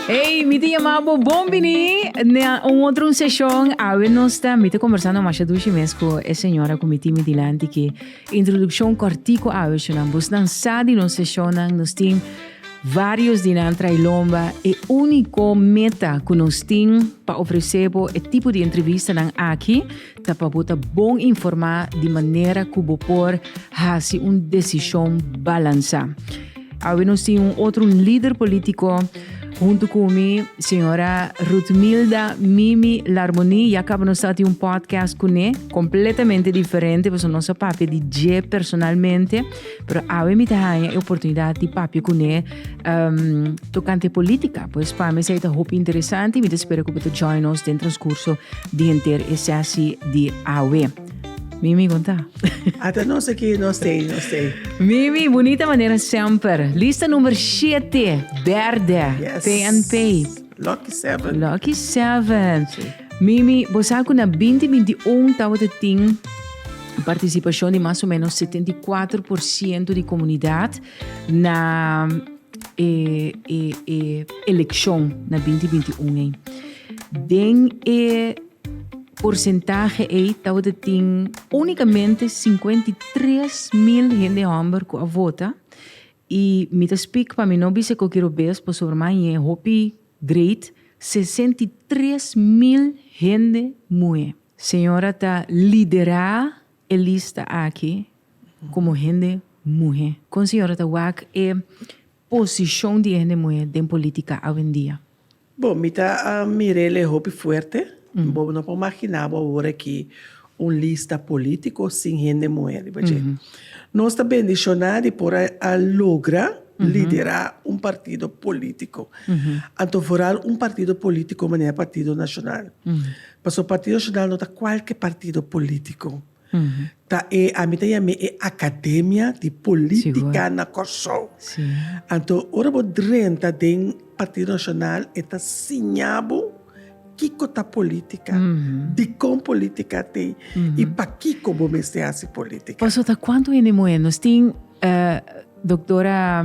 Hey, mi te llama bo bon bini na un otro un sesión. Awe nos ta mi te conversando masha dushi mes con e señora con mi timi dilanti que Introduccion cortico Awishonan, Busnan sa di nos sesionnan nos tin varios di nan trae lomba e unico meta cu nos tin pa ofrece bo e tipo di entrevistanan aki ta pa bo ta bon informa di manera cu bo por haci un decision balansa. Awe nos tin un otro lider politico hunto cu mi, señora Rutmilda Mimi Larmonie. Ya caba nos sa tin un podcast cune, completamente diferente, pasobra nos a papia di dje personalmente. Pero awe mi ta haña e oportunidad di papia cune tocante politica. Pues pa mi esei ta hopi interesante y mi ta spera cu bo ta join nos den transcurso di henter e sesi di awe. Mimi conta. Ata no sé que no sé, no sé. Mimi, bonita manera semper. Lista nummer 7, derde, yes. PNP. Lucky 7. Lucky 7. Sí. Mimi, bosaku na 2021 tawa te ting participación de más o menos 74% de comunidad na eh, eh, eh, elección na 2021. Den eh, Porsentahe ei tawata tin únikamente sinkuenta i tres mil hende hòmber ku a vota. I mi ta spik pa mi no bisa ku kiro bes pasobra mañe hopi great sesenta i tres mil hende muhé. Señora ta liderá e lista aki komo hende muhé. Kon señora ta wak e Posishon di e hende muhé den polítika awendia? Bo, mi ta mir'el e hopi fuerte. Bo no por maginá bo awor akí un lista polítiko sin hende muhé riba dje. Nos ta bendishoná di por a logra liderá un partido polítiko, anto foral un partido polítiko manera Partido Nashonal. Pasobra Partido Nashonal no ta kualke partido polítiko. Ta e, ami ta yam'e e Academia di Politica na Kòrsou. Anto ora bo drenta den Partido Nacional e ta siña bo kiko ta politica, dikon politica ta ei i pakiko bo mester hasi politica. Pasobra ta kuantu hende muhé. Nos tin Doctora.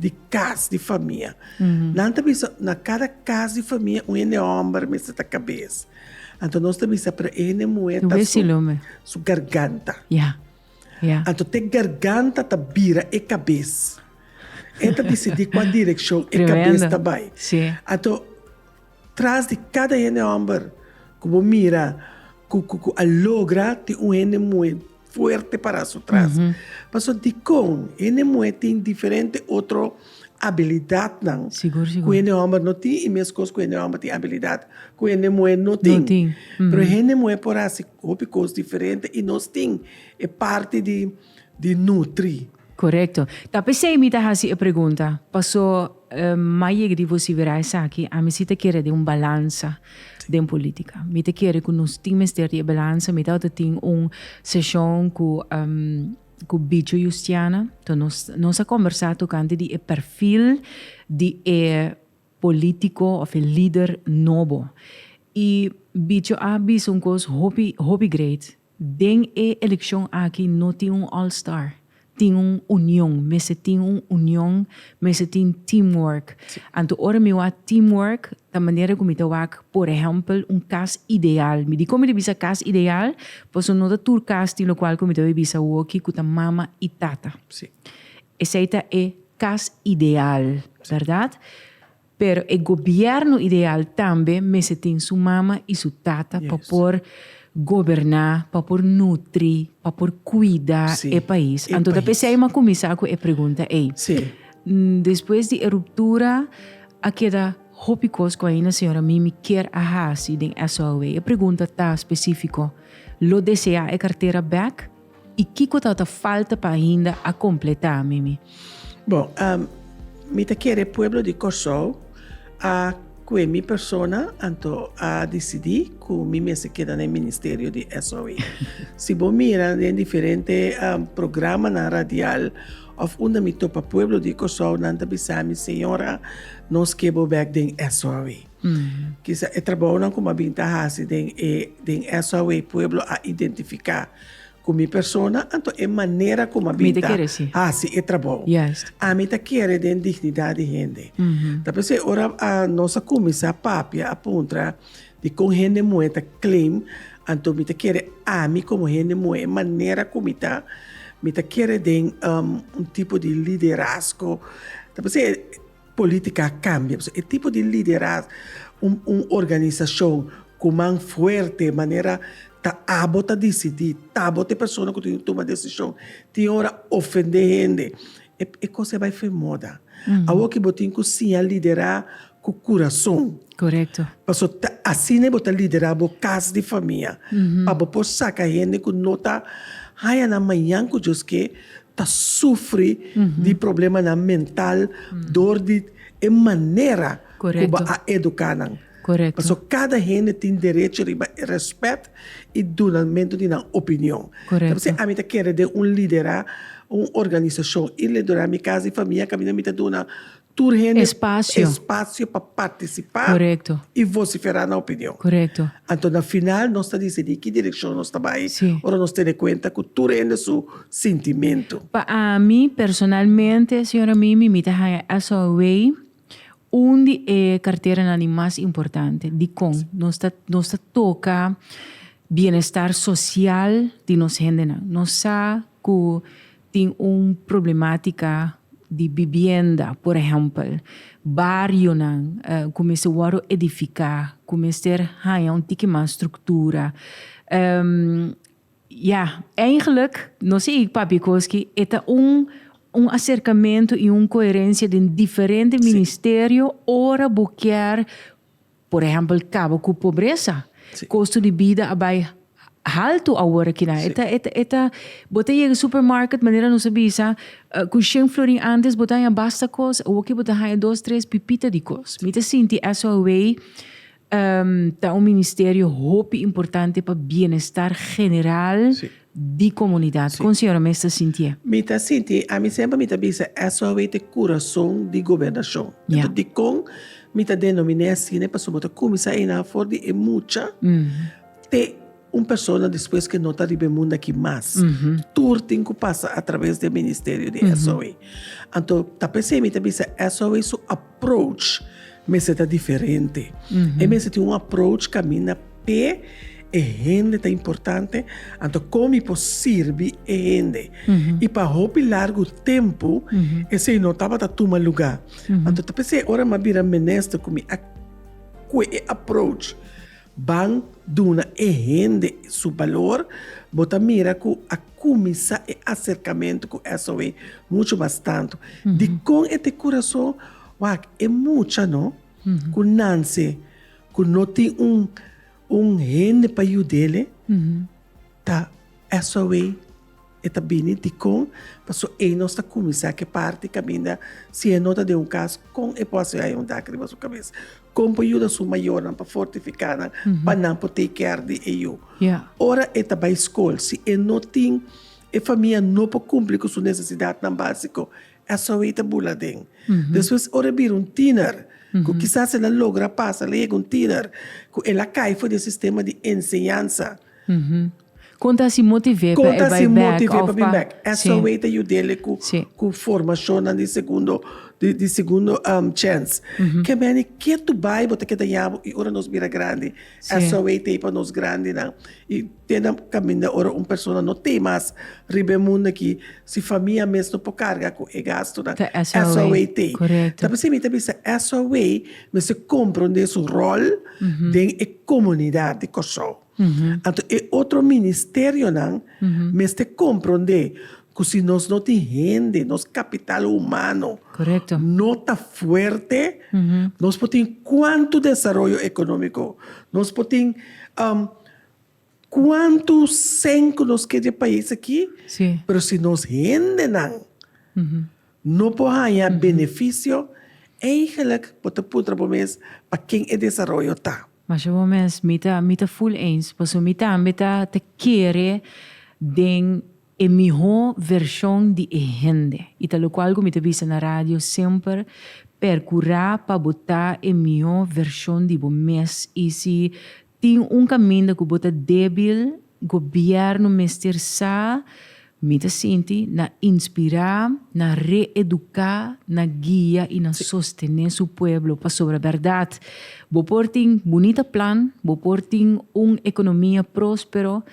di kas di famia. Nan ta bisa, na kada kas di famia un hende hòmber mester ta kabes. Anto nos ta bisa, pero e hende muhé ta su, su garganta. Ya, ya. Anto t'e garganta ta bira e kabes. E ta disidí kua direkshon e kabes ta bai. Anto. Tras di kada hende homber cu bo mira cu cu cu a logra tin un hende muhe fuerte para su tras. Paso dicon hende muhe tin diferente otro habilidadnan cu hende homber no tin y mes cos cu hende homber tin habilidad cu hende muhe no tin. Pero hende muhe por haci hopi cos diferente y nos tin e parti di. di nutri. Korekto. Ta p'esei mi ta hasi e pregunta, paso m'a yega di vosi bira esaki, ami si ta kere den un balansa den politika. Mi ta kere ku nos tin mester di e balansa. Mi tabata tin un seshon ku ku Bicho Yustiana, to nos nos a kombersá tokante di e perfil di e polítiko òf e lider nobo. I Bicho a bisa un kos hopi hopi great, Den e eleccion aki no tin un all star, tin un union, mester tin un union, mester tin team work, anto ora mi wak team work ta manera cu mi ta wak por ehempel un cas ideal, mi dicon mi ta bisa cas ideal? Pasobra no ta tur cas tin locual cu mi ta bay bisa awo aki cu ta mama y tata, esey ta e cas ideal, verdad? Pero e gobierno ideal tambe mester tin su mama y su tata pa por goberna, pa por nutri, pa por cuida e pais. Anto ta p'esey mi a cuminsa cu e pregunta ey. Despues di e ruptura a keda hopi cos cu ainda señora Mimi kier a haci den SOLW. E pregunta ta specifico, Lo desea e cartera back? I kiko ta ta falta pa ainda a kompletá, Mimi? Bon, mi ta kere pueblo di Kòrsou a kue mi persona anto a disidí ku mi mester ta keda na e ministerio di SOE. Si bo mira den diferente programanan radial òf unda mi topa pueblo di Kòrsou, nan ta bisa mi, Señora, nos ke bo bèk den SOE. Kisa e trabaonan ku mi a bin ta hasi den e den SOW pueblo a identifiká ku mi persona anto e manera ku mi a bin ta hasi e trabou. Ami ta kere den dignidat di hende. Ta p'esei ora nos a kuminsá papia a puntra di kon hende muhé ta claim anto mi ta kere ami komo hende muhé e manera ku mi ta mi ta kere den un tipo di liderazgo ta p'esei Política a cambia, pasobra e tipo di liderazgo, un un organizacion cu man fuerte manera ta abo ta dicidi, ta bo ta e persona cu tin e tuma decision, tin ora ofende hende, e e cosa a bay fen moda, awor que bo tin cu siña lidera cu curason, pasobra ta asina e bo ta lidera bo cas di famia, pa bo por saca hende cu no ta haya nan mañan cu Dios ke ta sufri di problemanan mental dor di e manera ku bo a eduká nan. Pasobra kada hende tin derecho riba e rèspèt i dunalmentu di nan opinion. Ta por si ami ta kere den un liderá un organisashon i liderá mi kas i famia kaminda mi ta duna Tur hende Espasio. espasio pa partisipá Korekto. i vosiferá nan opinion. Korekto. Anto na final nos ta disidí ki direkshon nos ta bai Si. ora nos tene kuenta ku tur hende su sintimentu. Pa ami personalmente, señora Mimi, mi ta haña SOWEI un di e karteranan di mas importante. Dikon? Nos ta nos ta toka bienestar sosial di nos hendenan. Nos sa ku Tin un problematica di bibienda, por ehempel, barionan cu mester wordo edifica, cu mester haya un tiki mas structura. Ya, eigenlijk, no sé y papia koski, e ta un un acercamento y un coherencia den diferente ministerio ora bo kier. Por ehempel kaba ku pobresa. Kosto di bida a bai haltu awor aki nan. E ta, bo ta yega supermarket manera nos a bisa ku shen florin antes bo ta haña basta kos, awor aki bo ta haña dos tres pipita di kos. Mi ta sinti eso awei ta un ministerio hopi importante pa bienestar general di comunidad. Con señora mester sintié? Mi ta sinti, ami semper mi ta bisa SOW ta e curason di gobernacion. Enton dicon mi ta denominé asina? Pasobra bo ta cuminsa eynan afor di e mucha te un persona despues que no ta riba e mundo aki mas. Tur tin cu pasa atraves di e ministerio di SOW. Anto ta p'esey mi ta bisa SOW su. Approach mester ta diferente. E mester tin un approach kaminda p'e e hende ta importante, anto kon mi por sirbi e hende. I pa hopi largu tempu esei no tabata tuma lugá. Anto ta p'esei ora mi a bira minister ku mi a kue e approach. Ban duna e hende su balor. Bo ta mira cu a cuminsa e acercamento cu SOE mucho mas tanto. Dicon e tin curason? Wak, e mucha no cu nanse cu no tin un un hende pa yudele ta SOE. E ta bini dikon? Paso ei nos ta kuminsá ke parti kaminda si e no ta den un kas, kon e por hasi haya un dak riba su kabes? Kon por yuda su mayornan pa fortifiká nan pa nan por take care di e yu? Ora e ta bai skol, si e no tin, e famia no por kumpli ku su nesesidatnan básiko, e a sòbi ei ta bula den. Despues ora e bira un tiener, ku kisas el a logra pasa, el a yega un tiener, ku el a kai for di e sistema di enseñansa, Kon ta si motivé pa e bai bèk? Esou ei ta yud'é ku formashonnan di segundo di segundo chèns. Ke mene ke tu bai bo ta keda yabu i ora nos bira grandi esou ei ta e pa nos grandinan. I te na kaminda ora un persona no t'e mas riba e mundu aki si famia mes no por karga ku e gastunan esou ei t'e. Ta p'esei mi ta bisa esou ei mester kompronde su ròl den e komunidat di Kòrsou. Anto e otro ministerionan mester komprondé ku si nos no tin hende, nos kapital humano no ta fuerte, nos por tin kuantu desaroyo ekonómiko, nos por tin kuantu sen ku nos ke dje pais aki, pero si nos hendenan. No por haña beneficio, eigenlijk bo ta puntra bo mes pa ken e desaroyo ta. Masha bon mes, mi ta mi ta full eens paso mi tambe ta ta kere den e miho version di e hende y ta locual cu mi ta bisa na radio semper percura pa bo ta e miho version di bo mes y si Tin un kaminda ku bo ta débil, gobièrnu mester sa, mi ta sinti, na inspirá, na reeduká, na guia i na sostené su pueblo. Pasobra bèrdat, bo por tin bunita plan, bo por tin un ekonomia próspero,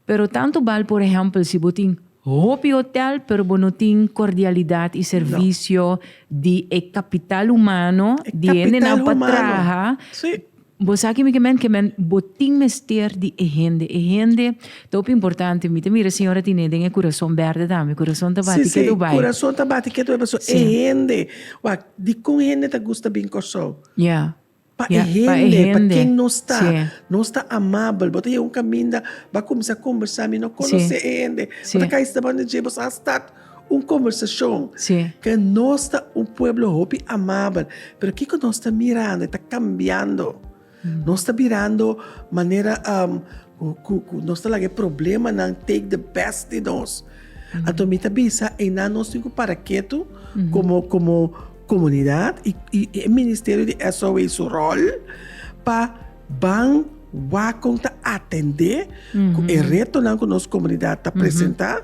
pero tantu bal por ehèmpel si bo tin hopi hotèl pero bo no tin kordialidat i servisio di e kapital humano, di hendenan pa traha Bo sa ki mi ke men ke men bo tin mester di e hende e hende ta hopi importante mi ta mira señor a tine den e kurason berde tambe kurason ta bati ketu bai kurason ta bati ketu bai paso e hende wak dikon hende ta gusta bin Kòrsou ya pa e hende pa ken nos ta nos ta amabel bo ta yega un kaminda bo a kuminsá kombersá mi no konosé e hende bo ta kai stap anda dje bo sa stat Un kombersashon ke nos ta un pueblo hopi amabel, pero kiko nos ta mirando e ta kambiando. Nos ta birando manera ku ku nos ta laga e problemanan take the best di nos. Anto mi ta bisa einan nos tin ku para ketu komo komo komunidat i e Ministerio di SOW su ròl pa. Ban wak kon ta atendé ku e retonan ku nos komunidat ta presentá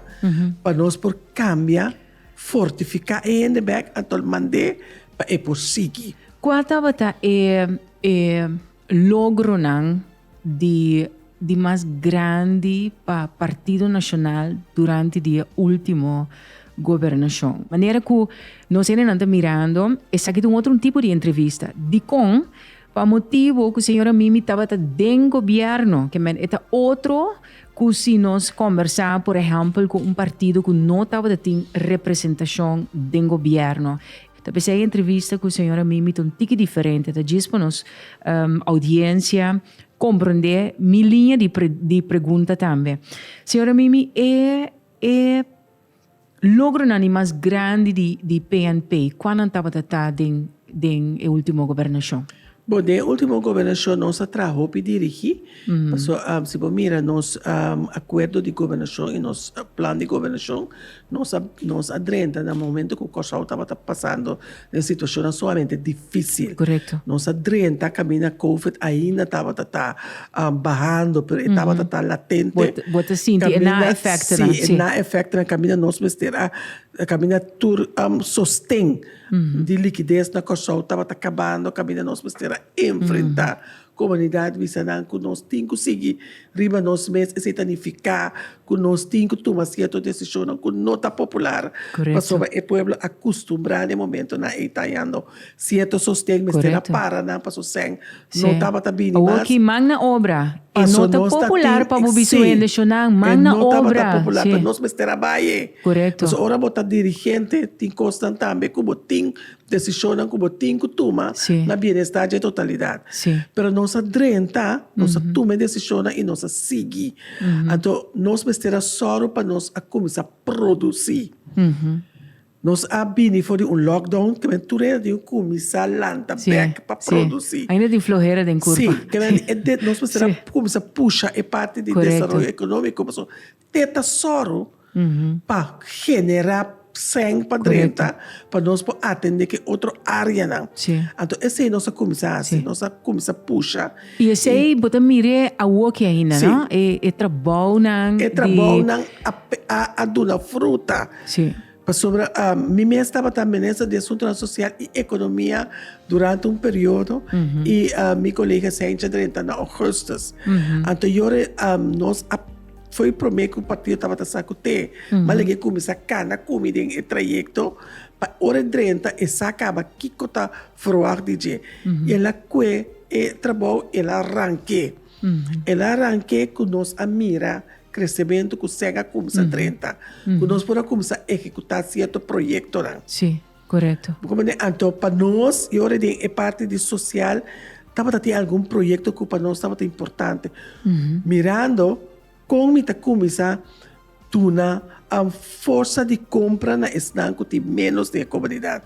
pa nos por kambia, fortifiká e hende bèk anto al mand'é pa e por sigui. Kua tabata e e logronan di di mas grandi pa Partido Nacional durante di e último gobernacion? Manera ku nos hendenan ta mirando esaki ta un otro tipo di entrevista. Dikon Pa motibu cu señora Mimi tabata den gobierno, que men eta otro cu si nos conversa, por ehempel, cu un partido cu no tabata tin representacion den gobierno. Ta p'esey entrevista cu señora Mimi ta un tiki diferente, ta djis pa nos um, audiencia comprende mi linea di, di pregunta tambe. Señora Mimi, e, e Logronan di mas grandi di di PNP kua nan tabata ta den den e ultimo gobernashon? Bon, den e ultimo gobernashon nos a traha hopi dirigí, paso si bo mira nos akuerdo di gobernashon i nos plan di gobernashon nos a nos a drenta na momento ku Kòrsou tabata pasando Den situashonnan sumamente difísil. Korekto. Nos a drenta kaminda COVID ainda tabata ta bahando, pero e tabata ta latente. Bo ta- bo ta sinti e na efektonan, sí. Sí, e na efektonan kaminda nos mester a, kaminda tur sosten di likides na Kòrsou tabata kabando, kaminda nos mester a enfrentá Komunidat bisa nan ku nos tin ku sigui riba nos mes, esei ta nifiká ku nos tin ku tuma sierto desishonnan ku no ta popular, pasobra e pueblo a kustumbrá den momentunan ei tayando sierto sosten mester a para nan pa su sèn no tabata bini mas, paso nos ta tin, sí, e no tabata popular pero nos mester a bai e. Paso ora bo ta dirigente tin kosnan tambe ku bo tin. Desishonnan ku bo tin ku tuma na bienestar dje totalidat. Pero nos a drenta, nos a tuma e desishonnan i nos a sigui. Anto nos mester a sòru pa nos a kuminsá produsí. Nos a bini for di un lockdown, ke men tur a yanda tin ku kuminsá lanta bèk pa produsí. Si, ainda tin flohera den kurpa. Si, nos mester a kuminsá pusha e parti di desaroyo ekonómiko. te ta sòru pa generá sèn pa drenta pa nos por atendé ki otro áreanan. Anto esei nos a kuminsá hasi, nos a kuminsá pusha. I esei bo ta mir'é awor ki ainda, no? E trabounan di. E trabounan a duna fruta. Pasobra mi mes tabata Minister di Asuntonan Sosial i Ekonomia durante un periodo i mi kolega Saintje drenta na Ougustus. Anto yore nos a foi promé ku partido tabata sa ku te malinga e kuminsá kana kumi den e trayekto pa ora e drenta e sa kaba kiko ta ferwagt di dje. I el a kue e trabou, el a rank'é. El a rank'é ku nos a mira Kresementu ku Sèn a kumsa drenta, ku nos por a kumsa ehekutá sierto proyektonan. Sí, korekto. Bo komente anto pa nos i ora den e parti di sosial tabata tin algun proyekto ku pa nos tabata importante. Mirando kon mi ta kuminsá duna am forsa di kompra na esnan ku tin ménos den e komunidat.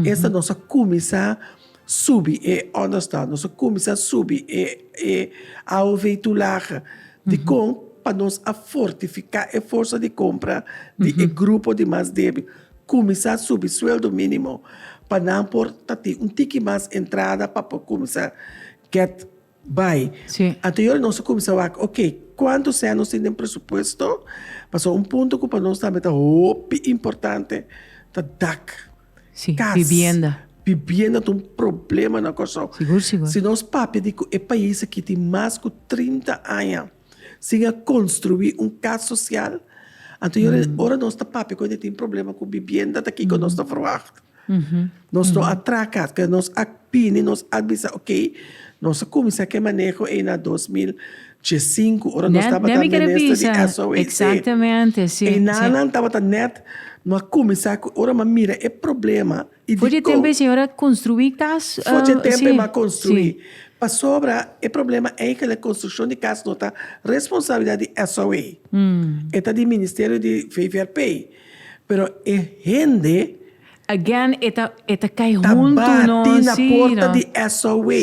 Esta nos a kuminsá Subi e others ta nos a cuminsa subi e e AOV toelagen dicon pa nos a fortifica e forsa di compra di e grupo di mas debil cuminsa subi sueldo minimo pa nan por ta tin un tiki mas entrada pa por cuminsa get Bai. Anterior nos a cuminsa wak, ok, cuanto sea nos tin den presupuesto? Pasobra un punto cu pa nos tambe ta hopi importante ta dak, cas. Bibienda. Bibienda ta un problema na Corsou. Sigur, sigur. Si nos papia di cu e pais aki tin mas cu trinta aña. Sin a construi un cas social. Anto yo ren, ora nos ta papia cu hende tin problema cu bibienda ta kico nos ta verwacht. Nos no a traha cas, pero nos a bini, nos a bisa, ok, nos a cuminsa cu e maneho ey na dos mil diecinco, ora nos tabata minister di SOHC. Exactamente, si, si. Ey nanan tabata net, no a cuminsa cu, ora mi a mira e problema. I di Fòrchi e tempu kon? e señor a konstruí kas? Fòrchi e tempu e m'a konstruí. Pasobra e problema ei ku e konstrukshon di kas no ta responsabilidat di SOA. E ta di Ministerio di VVRP. Pero e hende. Again e ta e ta kai huntu no. Ta bati na porta di SOA.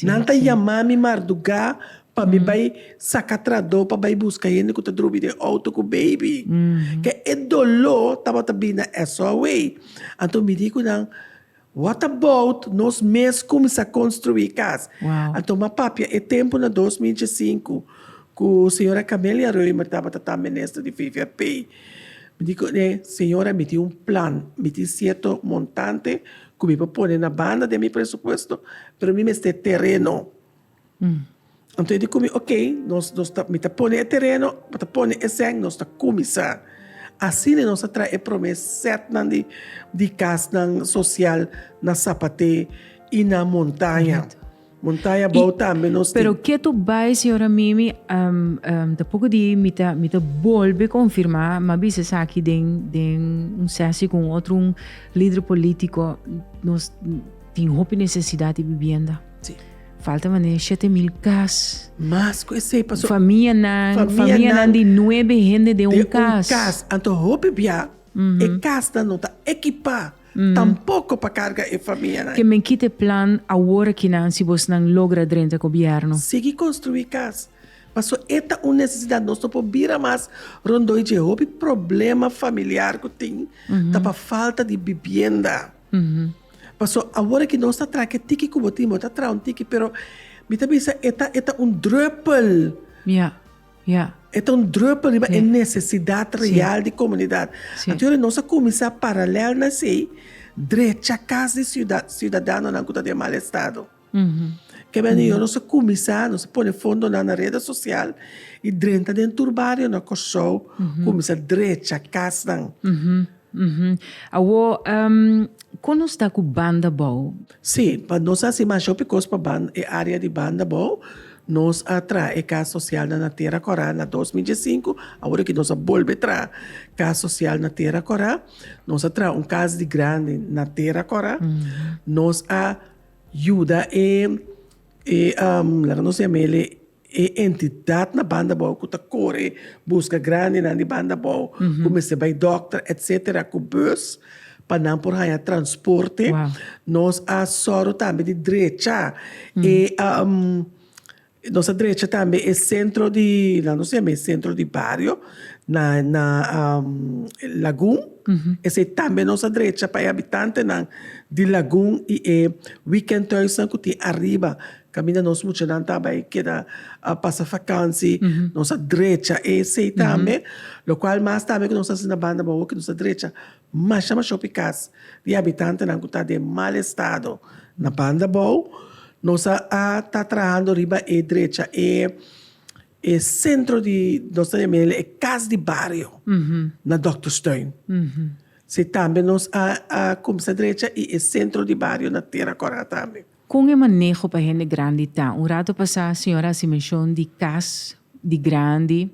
Nan ta yamá mi mardugá Pa mi bai saka tradó pa bai buska hende ku ta drobi den outo ku baby. Ke e doló tabata bini na eso awei. Anto mi di ku nan, What about nos mes kumsa konstruí kas? Anto m'a papia e tempu na dos mil dje sinku ku señora Camelia Reumer tabata ta minister di VVP. Mi di ku e, Señora, mi tin un plan, mi tin sierto montante ku mi por pone na banda den mi presupuesto, pero mi mester tereno. Anto e di cu mi, ok, nos, nos ta, mi ta pone e tereno, mi ta pone e seng, nos ta cuminsa. Asina nos a trae e prome setnan di, di casnan social na Sapate y na Montaña. Correcto. Montaña bou Y- tambe nos tin. Pero ke to bai, señora Mimi, em, em, ta poco di mi ta, mi ta bolbe confirma, mi a bisa esaki den, den un sesi cu un otro un lider politico, nos tin hopi necesidad di bibienda. Falta manera di shete mil kas. Mas ku esei paso. Famianan, Famianan. famianan di nuebe hende den un kas. Den un kas. Anto hopi bia e kasnan no ta ekipá tampoko pa karga e famianan. Ke men kita e plan awor aki nan si bosnan logra drenta gobièrnu. Sigui konstruí kas. Paso e ta un nesesidat. Nos no por bira mas rondó i dje. Hopi problema familiar ku tin ta pa falta di bibienda. Paso awor aki nos ta traha ke tiki ku bo tin, bo ta traha un tiki, pero mi ta bisa e ta e ta un drùpel, e ta un drùpel riba e nesesidat real di komunidat. Anto yori nos a kuminsá paralèl na esei drecha kas di siudadanonan ku ta den mal estado. Kebe anio nos a kuminsá, nos a pone fondonan na rede sosial i drenta den tur barionan na Kòrsou kuminsá drecha kasnan. Awor, kon nos ta ku banda bou? Sí, pa nos a hasi masha hopi kos pa banda, e área di banda bou. Nos a traha e kas sosialnan na Tera Kòrá na dos mil die sinku, awor aki nos a bolbe traha kas sosial na Tera Kòrá. Nos a traha un kas di grandi na Tera Kòrá. Nos a Yuda e, e, laga nos yama el e entidad na banda bou cu ta core busca grandenan di banda bou cu mester bay dokter, etcetera, cu bus pa nan por haya transporte. Nos a sòru tambe di drecha e. Nos a drecha tambe e sentro di, la nos llama e sentro di bario, na na Lagun, esei tambe nos a drecha pa e habitantenan di Lagun i e weekendhuisnan ku tin ariba, kaminda nos muchanan ta bai keda pasa vakansi, nos a drecha esei tambe, lokual mas tambe ku nos a hasi na banda bobo ku nos a drecha. Masha masha hopi kas di habitantenan ku ta den mal estado na banda bou. Nos a ta trahando riba e drecha e e sentro di nos ta yama el e kas di bario na Doktersteun. Si tambe nos a a kumsa drecha i e sentro di bario na Tera Kora tambe. Kon e maneho pa hende grandi ta? Un rato pasá señor a hasi menshon di kas di grandi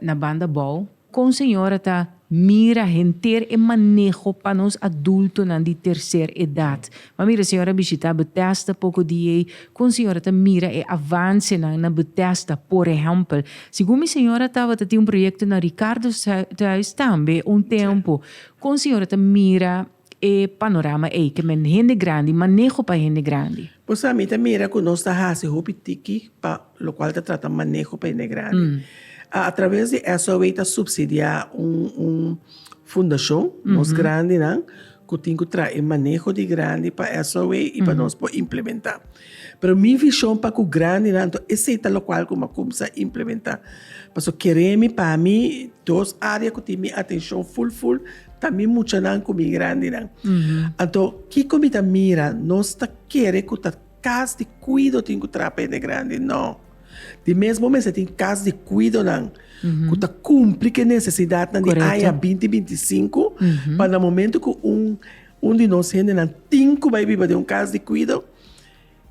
na banda bou. Kon señor a ta mira henter e maneho pa nos adultonan di terser edat? M'a mira señor a bishitá Betesda poko di ei. Kon señor a ta mira e avansenan na Betesda? Por ehèmpel, segun mi señor a tabata tin un proyekto na Ricardo's Thuis tambe un tempu. Kon señor a ta mira E panorama ei ke men hende grandi maneho pa hende grandi. Bo sa mi ta mira ku nos ta hasi hopi tiki pa lokual ta trata maneho pa hende grandi. A atraves di SOW ta supsidiá un un fundashon nos grandinan ku tin ku trae maneho di grandi pa SOW i pa nos por implementá. Pero mi vision pa cu grandinan anto esey ta locual cu m'a cumsa implementa. Paso kere mi pa mi dos area cu tin mi atencion full full ta mi muchanan cu mi grandinan. Anto kico mi ta mira nos ta kere cu ta cas di cuido tin cu trapa hende grandi no. Di mesmo mester tin cas di cuidonan cu ta cumpli cu e necesidadnan di aña binti binti sinku pa na momento cu un Un di nos hendenan tin ku bai biba den un kas di kuido,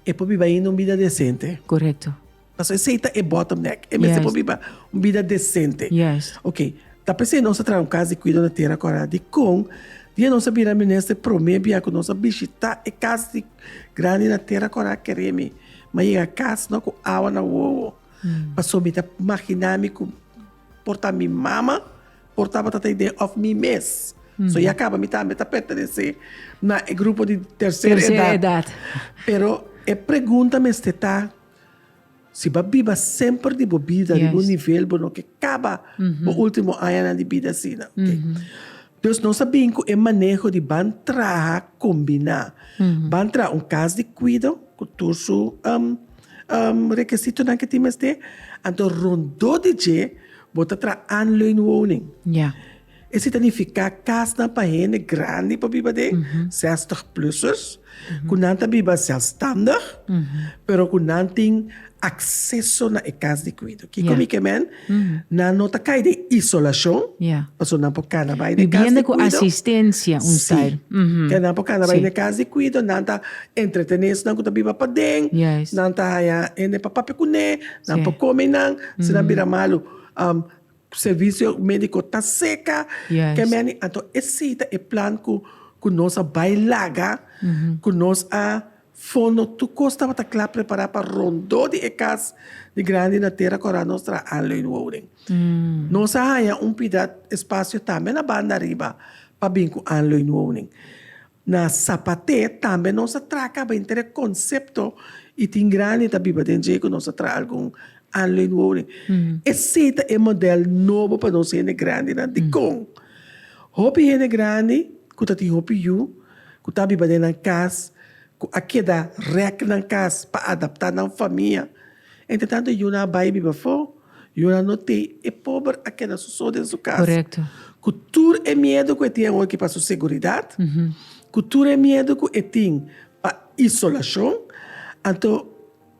e por biba ainda un bida desente. Korekto. Pasobra esei ta e bottom neck. E mester por biba un bida desente. Yes. Ok, ta p'esei nos a traha un kas di kuido na tera kòrda. Dikon dia nos a bira minister promé bia ku nos a bishitá e kas di grandi na tera kòrda? Keré mi. Mi a yega kas no ku awa na wowo. Pasobra mi ta maginá mi ku Por ta mi mama, por tabata ta idea of mi mes. So ya kaba mi tambe ta pertenesé na e grupo di terser edat. Tercer edad. Pero e pregunta mester ta, si bo a biba semper di bo bida riba un Yes. nivel bo no ke kaba bo último añanan di bida asina. Dios nos a bin cu e maneho di ban traha combina. Ban traha un cas di cuido cu tur su um, um, requisitonan que tin mester. Anto rondó di dje bo ta traha aanleunwoning. Ja. Esi ta nifica casnan pa hende grandi pa biba den, 60 plusers. Ku nan ta biba sèlstandig, pero ku nan tin akseso na e kas di kuido. Kiko mi ke men? Nan no ta kai den isolashon, pasobra nan por kana bai na e kas di kuido. Mi biende ku asistensia un style. Si. Te nan por kana bai na e kas di kuido, nan ta entretené esnan ku ta biba paden, nan ta haña hende pa papia kuné, nan por kome nan. Si nan bira malu. Servisio médiko ta seka, ke meni. Anto esei ta e plan ku ku nos a bai laga, ku nos a fono tur kos tabata kla prepará pa rondó di e kas di grandi na Tera Kòrá nos traha Anleun Woning. Nos a haña un pida espasio tambe na banda riba pa bin ku Anleun Woning. Na Sapate tambe nos a traha caba inter e concepto y tin grandi ta biba den dje cu nos a traha algun anlui nuovo den. Esey ta e model nobo pa nos hende grandinan. Dicon? Hopi hende grandi cu ta tin hopi yu, cu ta biba den nan cas, cu a keda rek nan cas pa adapta nan famia. Entretanto yunan a bai biba afó, yunan no te. E pober a keda soso den su kas, ku tur e miedu ku e tin awor ki pa su seguridat, ku tur e miedu ku e tin pa isolashon. Anto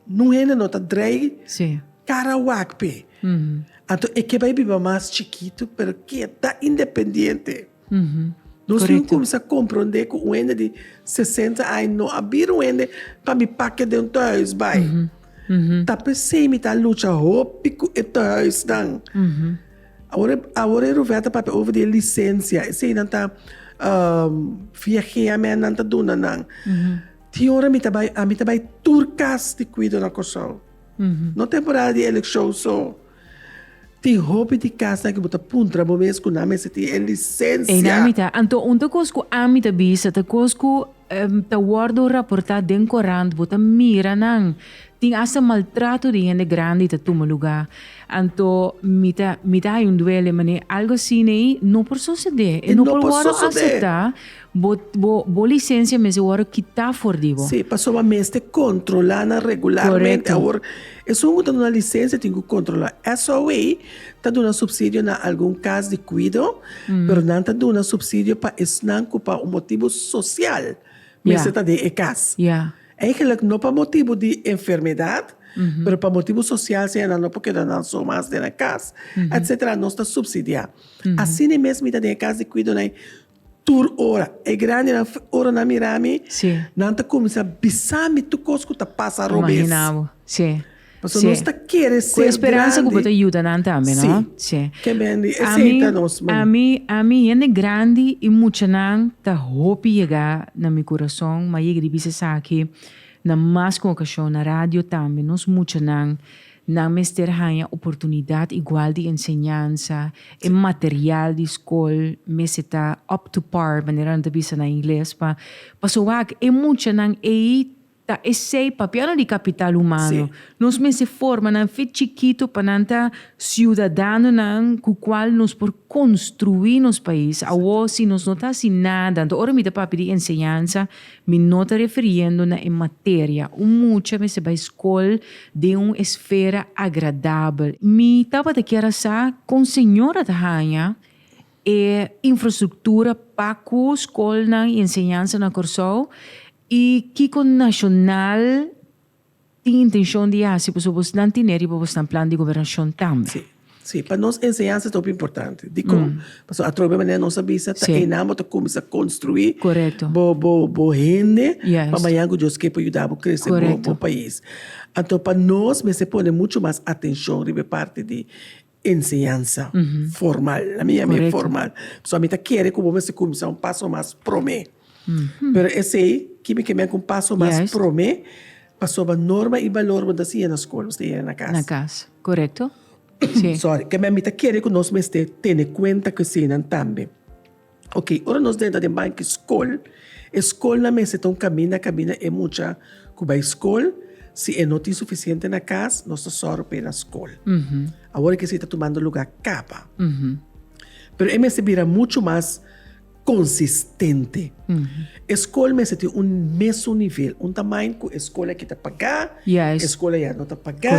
un hende no ta drai kara wak p'e. Anto e ke bai biba mas chikitu, pero keda independiente. Nos tin cuminsa comprende cu un hende di sesenta aña no a bira un hende pa mi pakia den un tehuis bay. Ta pesey mi ta lucha hopi cu e tehuisnan. Awor e, awor e Ruvela ta papia over di e licencia, esey nan ta viageamen nan ta duna nan. Tin ora mi ta bay, ami ta bay tur cas di cuido na Corsou. No temporada di eleccion so. Tin hopi di kasa ku bo ta puntra bo mes ku nan mester tin e lisensia. Einan mi ta. Anto un ta kos ku ami ta bisa ta kos ku ta wòrdu raportá den korant. Bo ta mira nan. Tin asta maltrato di hende grandi ta tuma lugá. Anto mi ta mi ta hay un duele manera algu asina ei no por sosodé. E no por wòrdu aseptá Bo bo bo licencia mester worde kita for di bo. Sí, pasobra a mester controla nan regularmente. Correcto. Awor, esun cu ta duna licencia tin cu controla. SOE ta duna subsidio na algun cas di cuido, pero nan ta duna subsidio pa esnan cu pa un motibu social mester ta den e cas. Ya. Eigenlijk no pa motibu di enfermedad, pero pa motibu social seña nan no por keda nan so mas den e cas, etc. Nos ta subsidia. Asina mes mi ta den e cas di cuido na e Tur ora e grandinan ora nan mira mi, Sí. nan ta cuminsa bisa mi tur cos cu ta pasa robes. Imagina bo, sí. Paso sí. nos ta kere ser grandi. Cu e speransa cu bo ta yuda nan tambe, no? Sí. Ke men di e seita nos, man. Ami, ami, hende grandi y muchanan ta hopi yega na mi curason, ma yega di bisa esaki na mas cu un ocasion, na radio tambe, nos muchanan. Nan mester haña oportunidat igual di enseñansa, e material di skol mester ta up to par, manera nan ta bisa na ingles, pa paso wak e muchanan ei ta esei papia no di kapital humano. Nos mester forma nan fin chikito pa nan ta siudadanonan ku kual nos por konstruí nos pais. Awor si nos no ta hasi nada, anto ora mi ta papia di enseñansa, Mi no ta refiriendo na e materia. Un mucha mester bai scol den un esfera agradabel. Mi tabata kier a sa con señor a ta hanja e infrastructura pa cu scolnan y enseñansa na Corsou y kico nacional. tin intencion di haci pasobra bosnan tine riba bosnan plan di gobernacion tambe. Sí, sí, pa nos enseñansa ta hopi importante. Dicon? Pasobra atrobe manera nos a bisa ta einan bo ta cuminsa construi bo bo bo hende pa mañan cu Dios ke por yuda bo crece bo pais. Anto pa nos mester pone mucho mas atencion riba e parti di. enseñansa formal. Na mi, a mi e formal. So, a mi ta kere ku bo mester kuminsá un paso mas promé. Pero esei, kiba ke men ku un paso mas promé? Pasobra norma i balor bo ta siña na skol, bo ta yera na kas. Na kas, korekto. Sòri, kembe a mi ta kere ku nos mester tene kuenta ku eseinan tambe. Ok, ora nos ta entra den banki skol, e skolnan mester ta un kaminda kaminda e mucha ku bai skol. Si e no tin sufisiente na kas, nos ta sòru pa e na skol. Awor e kier si e ta tumando lugá kaba. Pero e mester bira muchu mas konsistente. E skol mester tin un mesun nivel, un tamaño ku e skol aki ta pagá, e skol ayan no ta pagá.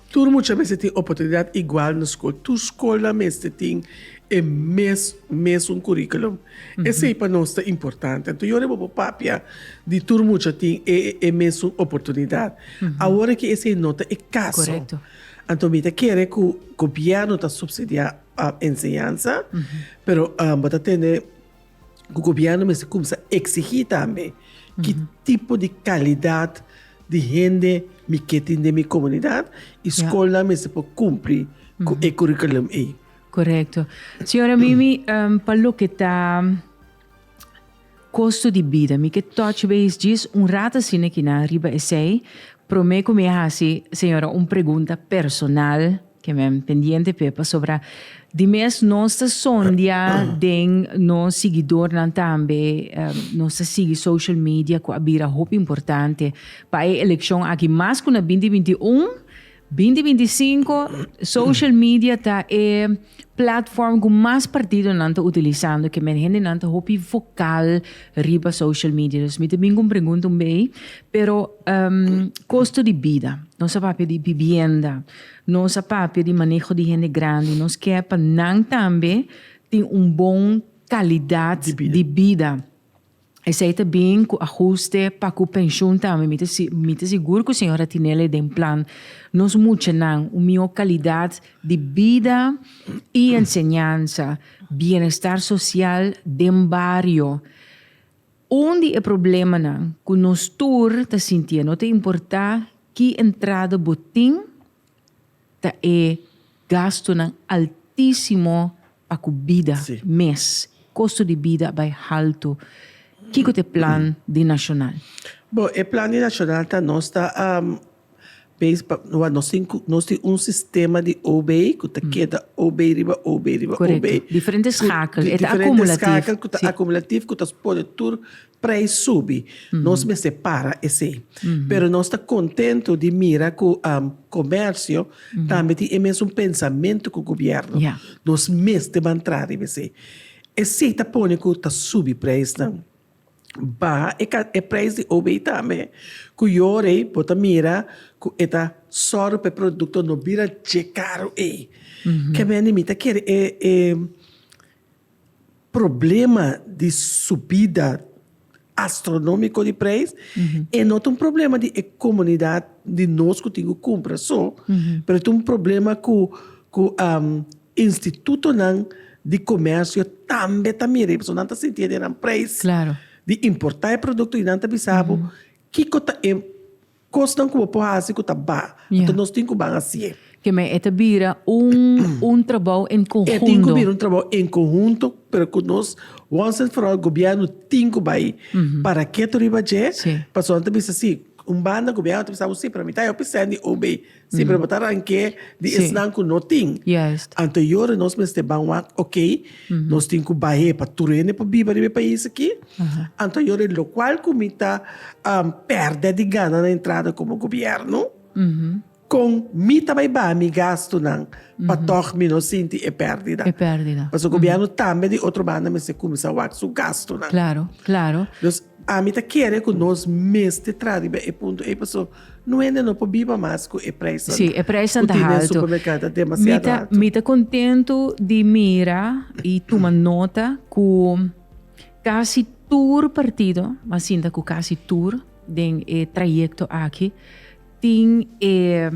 Tur mucha mester tin oportunidat igual na skol. Tur skolnan mester tin e mes mesun kurikulum. Esei pa nos ta importante. Anto yori bo por papia di tur mucha tin e e mesun oportunidat. Awor aki esei no ta e kaso. Korekto. Anto mi ta kere ku gobièrnu ta supsidiá enseñansa, pero bo ta tende cu gobierno mester cumsa exigi tambe ki tipo di calidad di hende mi ke tin den mi comunidad y scolnan mester por cumpli cu e curriculum ey. Correcto. Señora Mimi, pa loke ta costo di bida, mi ke touch base djis un rat asina aki nan riba esey. Prome cu mi a haci, señora, un pregunta personal. Ke men pendiente p'e pasobra di mes nos ta sondia den nos siguidornan tambe, nos ta sigui social media ku a bira hopi importante pa e elekshon aki mas ku na binti binti un, binti binti sinku social media ta e platform ku mas partidonan ta utilisando ke men hendenan ta hopi vokal riba social media dus mi ta bin ku un pregunta un bei pero kosto di bida nos a papia di bibienda Nos a papia di maneho di hende grandi, nos kier pa nan tambe tin un bon kalidat di bida. Esei ta bin ku ahuste pa ku penshun tambe. Mi ta mi ta sigur ku señora Tinelli den plan nos muchanan un mihó kalidat di bida i enseñansa, bienestar sosial den bario. Un di e problemanan ku nos tur ta sintié, no ta importá ki entrada bo tin, ta e gastunan altísimo pa ku bida Sí. mes. Kosto di bida a bai haltu. Kiko ta e plan di nashonal? Bo, e plan di nashonal ta nos ta Base pa no nos tin nos tin un sistema di OB ku ta keda OB riba OB riba OB. Korekto. Diferente skakel, e ta akumulativ. Diferente skakel ku ta akumulativ ku ta pone tur preis subi. Nos mester para esei. Pero nos ta kontentu di mira ku komersio tambe tin e mesun pensamentu ku gobièrnu. Nos mester mantrá riba esei. Esei ta pone ku ta subi preisnan. baha e ka e prijs di OB tambe ku yoor ei bo ta mira ku e ta sòru pa e produkto no bira dje karu ei. Ke mende mi ta kere e e problema di subida astronómiko di prijs e no ta un problema di e komunidat di nos ku tin ku kumpra so pero ta un problema ku ku. Institutonan di komersio tambe ta mira e pasobra nan ta sinti e den nan preis di importá e produkto i nan ta bisa bo kiko ta e kosnan ku bo por hasi ku ta ba. Anto nos tin ku ban hasi e. Ke men e ta bira un trabou en konhunto. E tin ku bira un trabou en konhunto pero ku nos wons en foral gobièrnu tin ku bai para keto riba dje pasobra nan ta bisa si un banda gobièrnu ta bisa bo si pero mi ta help e sendi o be. Sí, pero bo ta ranqué di esnan cu no tin. Juist. Anto yo ora nos mester ban wak, ok, nos tin cu bahe pa tur hende por biba riba e pais aki. Anto yo ora locual cu mi ta perde di gana na entrada como gobierno, con mi ta bay baha mi gastunan pa tog mi no sinti e perdida. E perdida. Pasobra gobierno tambe di otro banda mester cuminsa wak su gastunan. Claro, claro. Dus. Ami ta kere ku nos mester traha riba e punto ei paso no hende no por biba mas ku e prijsnan Sí, e prijsnan ta haltu. Ku tin den supermerkado ta demasiado haltu. Mi ta kontentu di mira i tuma nota ku kasi tur partido, mi sinta ku kasi tur den e trayekto aki tin e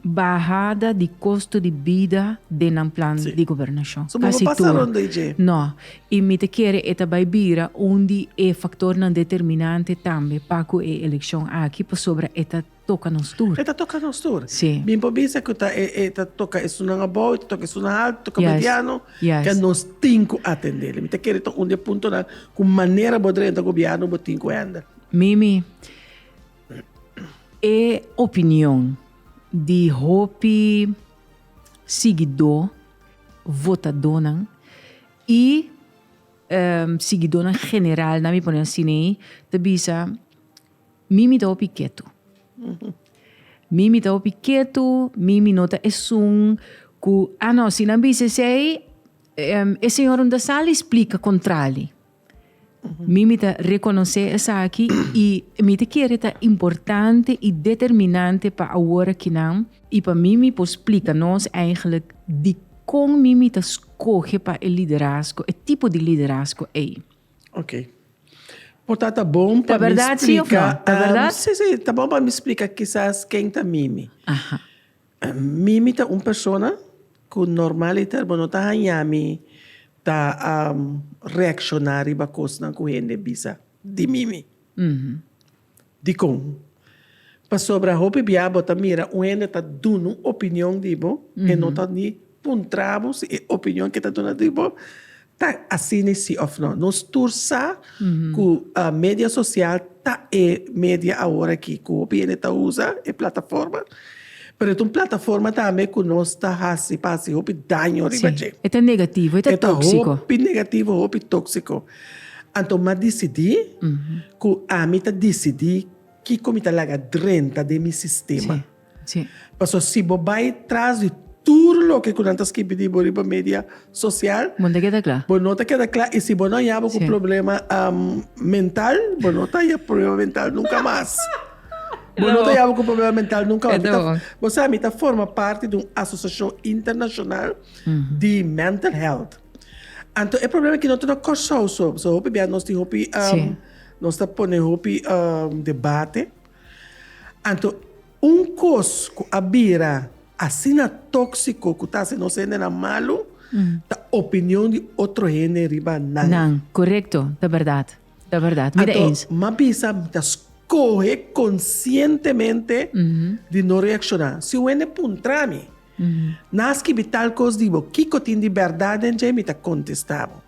Bahada di kostu di bida den nan plan di gobernashon. So bo por pasa ronda i dje? No. I mi ta kere e ta bai bira un di e faktornan determinante tambe pa ku e elekshon aki pasobra e ta toka nos tur. E ta toka nos tur. Si. Bin por bisa ku ta e ta toka esunnan abou, e ta toka esunnan haltu, toka mediano. Yes. Ke nos tin ku atendel. I mi ta kere ta un di e puntonan ku manera bo drenta gobièrnu bo tin ku hèndel. Mimi. E opinion di hopi sigidó, votadónan i sigidónan general, na mi pone así nei, ta bisa, Mi mi ta hopi ketu. Mi mi ta hopi ketu, mi mi no ta esun ku, ah no, si nan bisa esei, e señor un ta sali splika kontrali. Mi mi ta rekonosé esaki i mi ta kere ta importante i determinante pa awor aki nan i pa mi mi por splika nos eigenlik di kon mi mi ta skohe pa e liderazgo, e tipo di liderazgo ei. Ok. Por ta ta bon pa mi splika. Ta berdad si of no? Ta berdad? Si, si, ta bon pa mi splika kisas ken ta mi mi. Aha. Mi mi ta un persona cu normaliter bo no ta haña mi ta reacciona riba cosnan cu hende bisa di mi mi. Dicon? Pasobra hopi bia bo ta mira un hende ta duna un opinion di bo e no ta ni. Puntra bo si e opinion ke ta duna di bo ta asini si of no. Nos tur sa ku media sosial ta e media awor aki ku hopi hende ta usa, e plataforma. Pero e ta un plataforma tambe ku nos ta hasi pa hasi hopi daño riba dje. E ta negativo, e ta tóksiko. E ta hopi negativo, hopi tóksiko. Anto m'a disidí ku ami ta disidí kiko mi ta laga drenta den mi sistema. Sí. Paso si bo bai tras di tur loke ku nan ta skibi di bo riba media sosial. Bo no ta keda kla. Bo no ta keda kla i si bo no a yaba ku problema mental bo no ta yaba ku problema mental nunka mas. Bo no ta yaba ku problema mental nunka mas. Perdon. Bo sa mi ta forma parti di un asosiashon internashonal di mental health. Anto e problema aki no ta na Kòrsou so. Pasobra hopi bia nos tin hopi nos ta pone hopi debate. Anto un kos ku a bira asina tóksiko ku ta hasi nos hendenan malu ta opinion di otro hende riba nan. Nan, korekto, ta bèrdat, ta bèrdat, mi ta ens. Anto m'a bisa mi ta skohe konsientemente di no reakshoná. Si un hende puntra mi. Nan a skibi tal kos di bo, kiko tin di bèrdat den dje? Mi ta kontestá bo,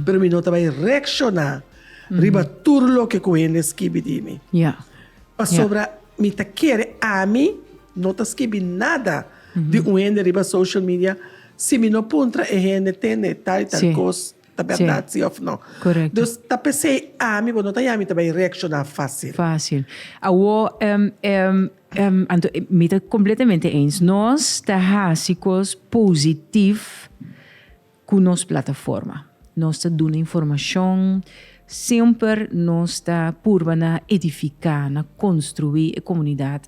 pero mi no ta bai reakshoná riba tur loke ku hende skibi di mi. Pasobra mi ta kere ami no ta skibi nada di un hende riba social media si mi no puntra e hende tende tal i tal kos. ta berdad si of no. Dus ta pesey ami bo no ta yami ta bay reacciona facil. Facil. Awor Anto mi ta completamente eens nos ta haci cos positif cu nos plataforma. Nos ta duna informacion semper nos ta purba na edifica na construi e comunidad.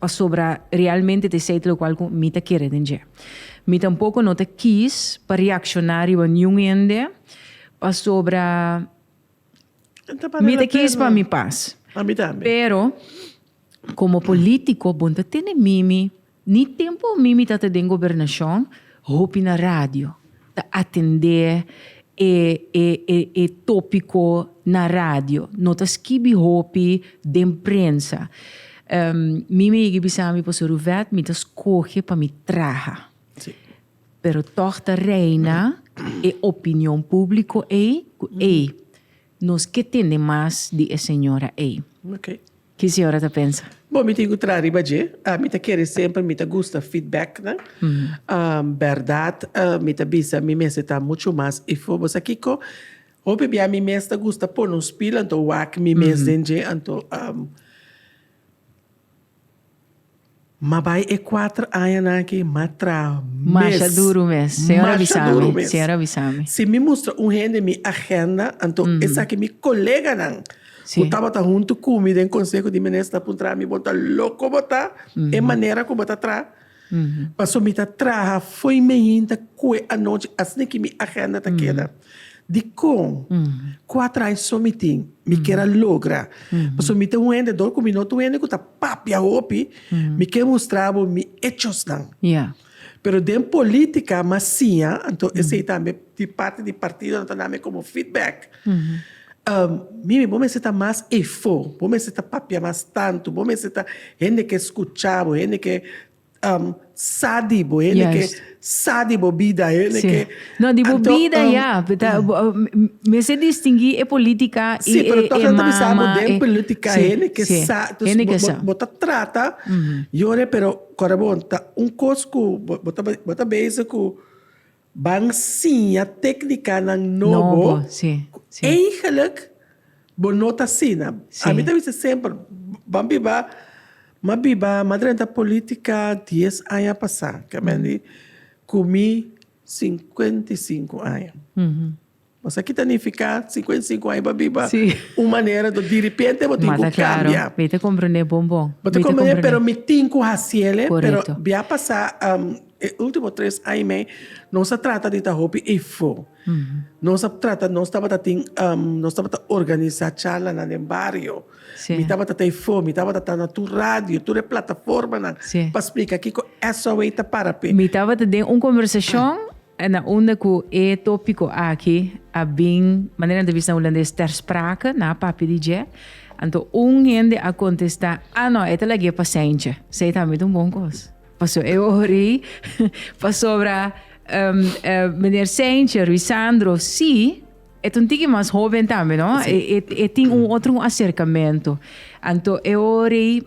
pasobra realmente ta esei ta lokual ku mi ta kere den dje. Mi tampoko no ta kis pa reakshoná riba niun hende, pasobra mi ta kis pa mi pas. Pero, komo polítiko bon ta tene mimi, ni tempu mimi tabata den gobernashon, hopi na radio. ta atendé e tópiko na radio. No ta skibi hopi den prensa. Mi mi higi bisa mi Pastor Ruvet, mi ta skohe pa mi traha. Pero tòg ta reina e opinion públiko ei, ku ei, Nos ke tende mas di e señora ei. Ok. Ki señora ta pensa? Bo mi tin ku tra riba dje. Mi ta kere semper mi ta gusta feedbacknan. Bèrdat mi ta bisa mi mester ta muchu mas ifo. Bo sa kiko? Hopi bia mi mes ta gusta pone un spil anto wak mi mes den dje anto. Ma bai e kuater añanan aki ma tra mes. Masha duru mes. Señor a bisa mi. Señor a bisa mi. Si mi mustra un hende mi agenda, anto esaki mi koleganan ku tabata huntu ku mi den Konseho di Minister a puntra mi, Bo ta loko bo ta? E manera ku bo ta traha? Paso mi ta traha fo'i mi hinta koe anochi asina ki mi agenda ta keda. Di kon ku a trai so mi tin, mi kier a logra. Paso mi ta un hende dor ku mi no ta un hende ku ta papia hopi, mi ke mustra bo mi echosnan. Pero den politika m'asiña, anto esei tambe. Di parti di partidonan ta nami komo feedback. Mimi, bo mester ta mas efó, bo mester ta papia mas tantu, bo mester ta hende ke skucha bo, hende ke sa di bo, hende ke sa di bo bida, hende ke. No, di bo bida ya, ta mester distingui e politika i e mama. Sí, pero tok nan ta bisa bo den politika hende ke sa, entonces bo ta trata yone pero korebon ta un kos ku bo ta bo ta bezig ku. Ban siña téknikanan nobo ku eigenlik bo no ta asina. Ami ta bisa semper, Ban biba, m'a biba, m'a drenta polítika dies aña pasá, kemendi ku mi sinkuenta i sinku aña. Mas aki ta nifiká sinku e sinku aña bo a biba un manera to diripente bo tin ku kambia. Mi ta komprendé bon bon. Bo ta komprendé pero mi tin ku hasiel, pero bia pasá e último tres aña i mei nos a trata di ta hopi efo. Nos a trata nos tabata tin nos tabata organisá charlanan den bario. Mi tabata ta efo, mi tabata ta na tur radio, tur e plataformanan pa splika kiko SOA ta para p'e. Mi tabata den un kombersashon En a unda cu e topico aki a bin, manera ta bisa na Hulandes, ter sprake, nan a papia di dje, anto un hende a contesta, Ah no, e ta lagu'é pasencha. Sey tambe ta un bon cos. Paso e ori, pasobra Meneer Seinche, Ruisandro, sí, e ta un tiki mas hoben tambe, no? E tin un otro acercamento. Anto e ori.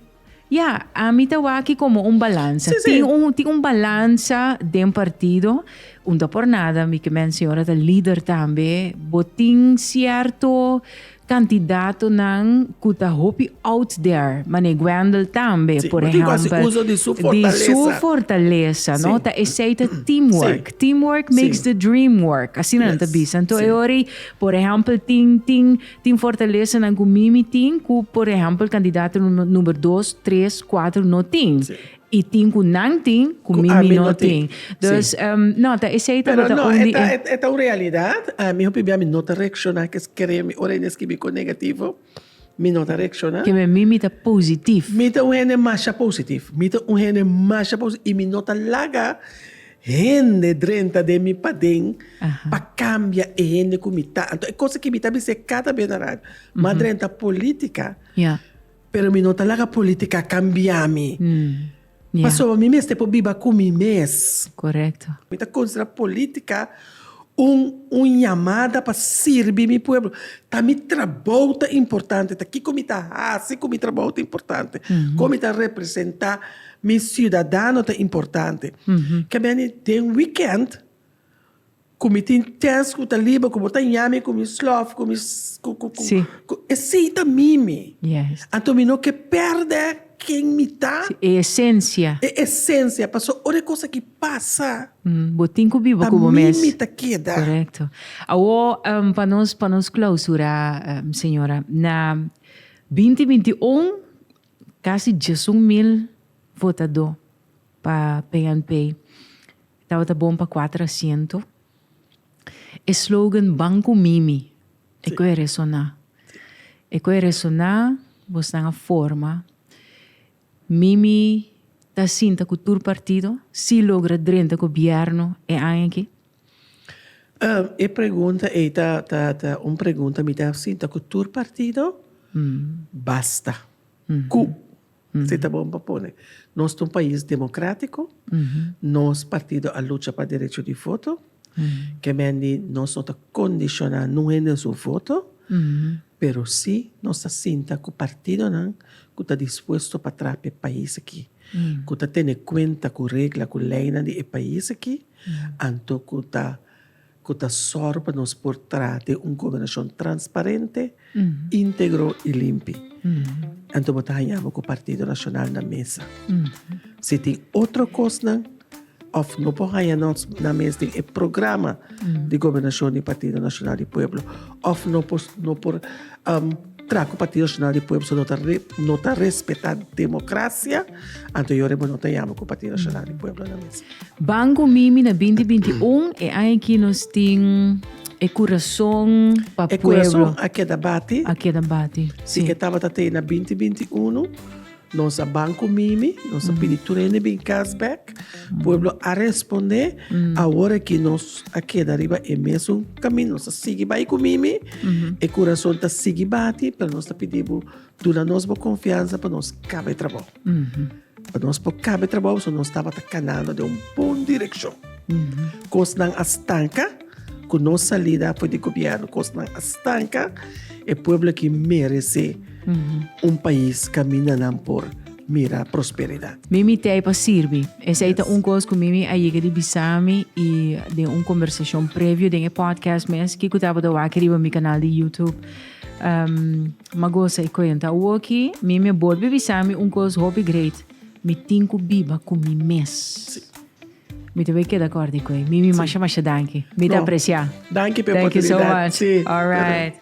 Ya, ami ta wak komo un balansa. Sí, sí. Tin un, tin un balansa den partido. Unda por nada, mi ke mensiona ora ta lider tambe. Bo tin sierto kantidatonan ku ta hopi out there. Manei Gwendel tambe, Sí, por bo tin ku hasi ehèmpel. uso di su Di su fortalesa. fortalesa, no? Sí. Ta esei ta teamwork. Sí. Teamwork makes Sí. the dream work. Asina nan ta Yes. bisa. Nto Sí. e ora ei, por ehèmpel, tin, tin Tin fortalesanan cu Mimi tin cu por ehempel candidato number dos, tres, cuatro no tin. Y tin cu nan tin cu Mimi no tin. Dus no, ta esey tabata un di e. Pero no, e ta un realidad. Mi hopi bia mi no ta reacciona ke skere mi. Ora e skibi cu negativo, mi no ta reacciona. Kebe Mimi ta positief. Mi ta un hende masha positief. Mi ta un hende masha positief y mi no ta laga Hende drenta den mi paden pa cambia e hende cu mi ta. Anto e cosa ki mi ta bis'é cada bes na radio, m'a drenta politica, pero mi no ta laga politica cambia mi. Pasobra mi mester por biba cu mi mes. Mi ta considera politica Un un yamada pa sirbi mi pueblo. Ta mi trabou ta importante, ta kiko mi ta hasi ku mi trabou ta importante, kon mi ta representá mi siudadano ta importante. Ke meni den wikènt ku mi tin tèst ku ta liba ku bo ta ña mi ku mi slòf ku mi ku ku ku e si ta mimi. Anto mi no ke pèrdè. Ken mi ta? Si, e esensia. E esensia. Paso ora e kos aki pasa. Bo tin ku biba ku bo mes. Ta mi mi ta keda. Korekto. Awo pa nos pa nos klausurá señora na binti binti un kasi diesun mil votadó pa PNP tabata bon pa kuater asiento. E slogan Ban ku mi mi. E cu e resoná. E cu e resoná bos nan a forma. Mimi ta sinta cu tur partido si logra drenta gobierno e aña aki? E pregunta ei ta un pregunta mi ta sinta cu tur partido? Basta cu. Si ta bon pa pone. Nos ta un pais democratico, nos partido a lucha pa derecho di voto, kemendi nos no ta condiciona nun hende su voto, pero si nos ta sinta cu partidonan cu ta dispuesto pa traha pa e pais aki, cu ta tene cuenta cu regla cu leynan di e pais aki, anto cu ta cu ta sòru pa nos por traha den un gobernacion transparente, integro y limpi. Anto bo ta haña bo cu Partido Nacional na mesa. Si tin otro cosnan of no por haña nos na mes den e programa di gobernacion di Partido Nacional di Pueblo of no por, no por Traku Partido Nacional di Pueblo so no ta respeta democracia, anto yo reba no ta yama cu Partido Nacional di Pueblo nan mes. Banco Mimi na binti binti y un e aña aki nos tin e curason pa pueblo. E curason a keda bati. A keda bati. Si e tabata tei na binti binti y uno. Nos a ban ku Mimi, nos a pidi tur hende bin kas bèk. Pueblo a respondé. Awor aki nos a keda riba e mesun kaminda. Nos a sigui bai ku Mimi. E kurason ta sigui bati, pero nos ta pidi bo duna nos bo konfiansa pa nos kaba e trabou. Pa nos por kaba e trabou pasobra nos tabata kanando den un bon direkshon. Kosnan a stanka. Cu no salida afuer di gobierno cosnan a stanca, e pueblo aki merece un pais caminda nan por mira prosperidad. Mimi t'ey pa sirbi. Esey ta un cos cu Mimi a yega di bisami y den un conversacion previo den e podcast mes kico tabata wak riba mi canal di YouTube. M'a goza e cuenta. Awoki Mimi a bolbe bisami un cos hopi great, mi tin cu biba cu mi mes. Mi tambe keda kòrda ku ei. Mimi masha masha danki. Mi ta apresiá. Danki p'e oportunidad. Danki so much. Sí. Alright.